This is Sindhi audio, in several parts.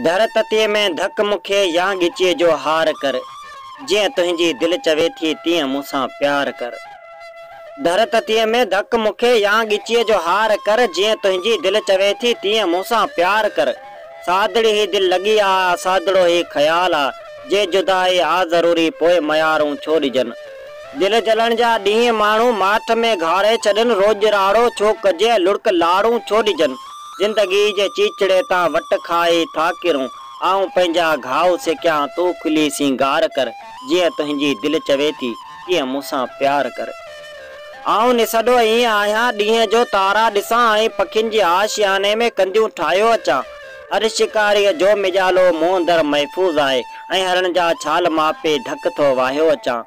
ڌر تتيء ۾ ڌڪ مون کي يا ڳچيء جو هار ڪر، جيئن تنهنجي دل چوي ٿي تيئن مون سان پيار ڪر. ڌر تتيء ۾ ڌڪ مون کي يا ڳچيء جو هار ڪر، جيئن تنهنجي دل چوي ٿي تيئن مون سان پيار ڪر. سادڙي هي دل لڳي آ، سادڙو هي خيال آ، جي جدائي آ ضروري پوء ميارون ڇو ڏجن. دل جلڻ جا ڏينهن ماڻهو ماٺ ۾ گهاري ڇڏن روڄ راڙو ڇو ڪجي لڙڪ لاڙون ڇو ڏجن زندگي جي چيچڙي تان وٽ کائي ٿا ڪرون آئون پنهنجا گهاء سڪيان تون کلي سينگار ڪر جيئن تنهنجي دل چوي ٿي تيئن مون سان پيار ڪر آئون نسڏو ائين آهيان ڏينهن جو تارا ڏسان ۽ پکين جي آشياني ۾ ڪنديون ٺاهيو اچان هر شڪاريء جو مجالو مون اندر محفوظ آهي ۽ هرڻ جا ڇال ماپي ڍڪ ٿو واهيو اچان.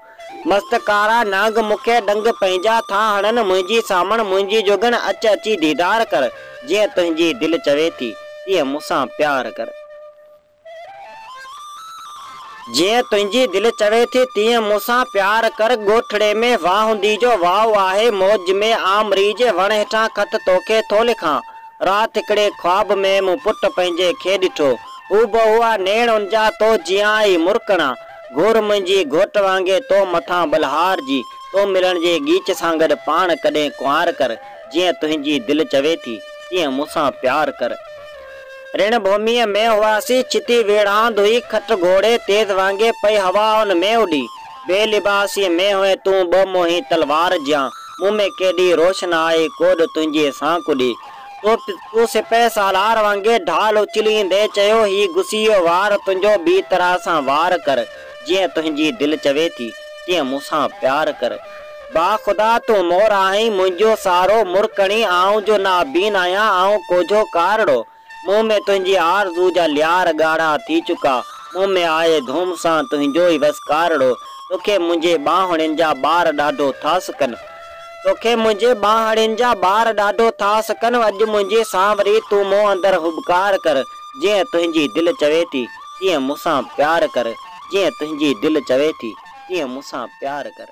مست ڪارا نانگ مون کي ڏنگ پنهنجا ٿا هڻن، منهنجي سامڻ منهنجي جوڳڻ اچ اچي ديدار ڪر، جيئن تنهنجي دل چوي ٿي، تيئن مون سان پيار ڪر. جيئن تنهنجي دل چوي ٿي، تيئن مون سان پيار ڪر. ڳوٺڙي ۾ واهندي جو واء آهي، موج ۾ آمري جي وڻ هيٺان خط توکي ٿو لکان. رات هڪڙي خواب ۾ مون پٽ پنهنجي کي ڏٺو. هو به هئا نيڻ ان جا تو جيان ئي مرڪڻا. گهور منهنجي گهوٽ وانگي تو مٿان ٻلهار جي. تو ملڻ جي ڳيچ سان گڏ پاڻ ڪڏهن ڪنوار ڪر. جيئن تنهنجي دل چوي ٿي تيئن مون سان پيار ڪر. رڻ ڀوميء ۾ هئاسين. ڇتي ويڙهاند هئي. کٽ گهوڙي تيز وانگي پئي هوا ان ۾ اڏي. بي لباسيء ۾ هئين تون ٻه موهين تلوار جيان، مون ۾ ڪيڏي روشنائي ڪوڏ تنهنجي سان ڪڏي. تو سپهه سالار وانگي ڍال اڇليندي چيو، هي گسيء وار تنهنجو ٻي طرح سان وار ڪر، جيئن تنهنجي دل چوي ٿي، تيئن مون سان پيار ڪر. با خدا تون مور آهين، منهنجو سارو مرڪڻي، آئون جو نابين آهيان، آئون ڪوجهو ڪارڙو. مون ۾ تنهنجي آرزو جا ليار ڳاڙها ٿي چڪا، مون ۾ آهي ڌوم سان تنهنجو ئي وسڪارڙو، توکي منهنجي ٻانهڙين جا ٻار ڏاڍو ٿا سڪن. توکي منهنجي ٻانهڙين جا ٻار ڏاڍو ٿا سڪن، اڄ منهنجي سانوري تون مون اندر هٻڪار ڪر، جيئن تنهنجي دل چوي ٿي، تيئن مون سان پيار ڪر، جيئن تنهنجي دل چوي ٿي، تيئن مون سان پيار ڪر.